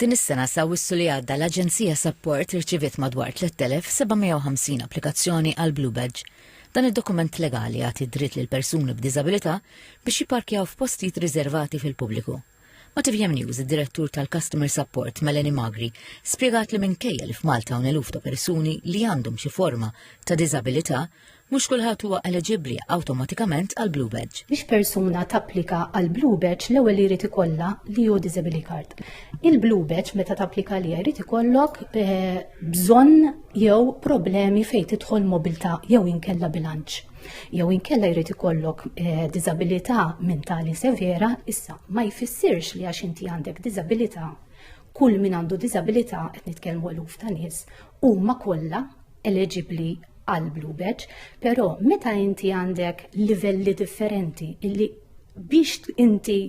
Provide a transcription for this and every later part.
Din is-sena s'Awwissu li għadda l-Aġenzija Sapport irċiviet madwar 3,750 applikazzjoni għall-Blue Badge. Dan id-dokument legali jagħti d-dritt lil persuni b'diżabilità biex jipparkjaw f'postijiet riżervati fil-pubbliku. Ma' tvm News id-Direttur tal-Customer Sapport Melanie Magri spjegat li minkejja li f'Malta hawn eluf ta' persuni li għandhom xi forma ta' diżabilità, Mhux kulħadd huwa eliġibbli awtomatikament għal Blue Badge. Biex persuna tapplika għal Blue Badge l-ewwel li jrid ikollha li hu Disability Card. Il-Blue Badge meta tapplika li jrid ikollok eh, bżonn jew problemi fejn tidħol mobilità jew inkella bilanċ. Jew inkella jrid ikollok eh, diżabilità mentali severa, issa ma jfissirx li għax inti għandek diżabilità kull min għandu diżabilità qed nitkellmu eluf ta' nies huma kollha eliġibbli għal Blue Badge, però meta inti għandek livelli differenti illi biex inti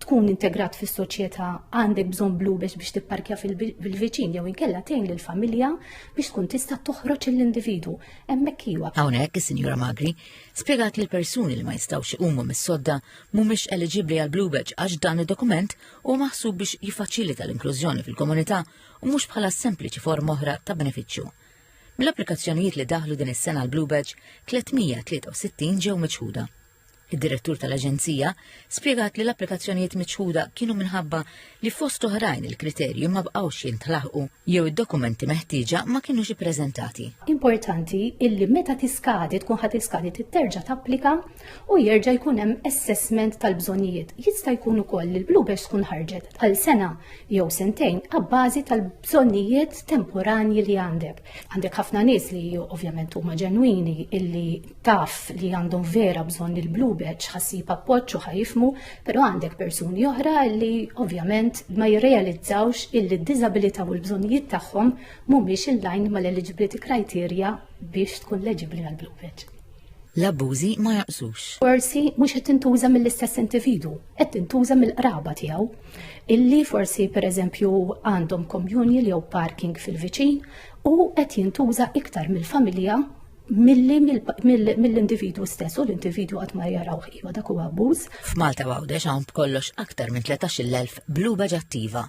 tkun integrat fis soċjetà għandek bżonn Blue Badge biex tipparkja fil-viċin jew inkella tgħin lill familja biex tkun tista' toħroġ l-individu. Hemmhekk iwa. Hawnhekk is-Sinjura Magri spjegat li l-persuni li ma jistgħux iqumu mis-sodda mhumiex eliġibbli għal Blue Badge għax dan id-dokument huwa maħsub biex jiffaċilita l-inklużjoni fil-komunità u mhux bħala sempliċi forma oħra ta' benefiċċju. Mill-applikazzjonijiet li daħlu din is-sena l Blue Badge, 363 ġew miċħuda. Id-direttur tal-Aġenzija spjegat li l-applikazzjonijiet miċħuda kienu minħabba li fost oħrajn il-kriterji ma bqgħux jintlaħqu jew id-dokumenti meħtieġa ma kienux ippreżentati. Importanti illi meta tiskadi tkun ħadd iskadi titterġa' tapplika u jerġa' jkun hemm assessment tal-bżonnijiet. Jista' jkun ukoll li l-bluebirds tkun ħarġet għal sena jew sentejn abbażi tal-bżonnijiet temporanji li għandek. Għandek ħafna nies li ovvjament huma ġenwini illi taf li għandhom vera bżonn li l-bluebird ħassib appoġġ u ħajfmu, però għandek persuni oħra li ovvjament ma jirrealizzawx illi d-diżabilità u l-bżonnijiet tagħhom mhumiex in-line mal-eligibility criteria biex tkun leġibbli għall-bluebird. l-abbużi ma jaqsux. Forsi mhux qed tintuża mill-istess individu, qed tintuża mill-qraba tiegħu. Illi forsi pereżempju għandhom communion jew parking fil-viċin u qed jintuża iktar mill-familja milli mill-individu stess u l-individu għat ma jaraw ħiwa dak huwa abbuż. F'Malta Għawdex hawn b'kollox aktar minn 13,000 bluba ġattiva.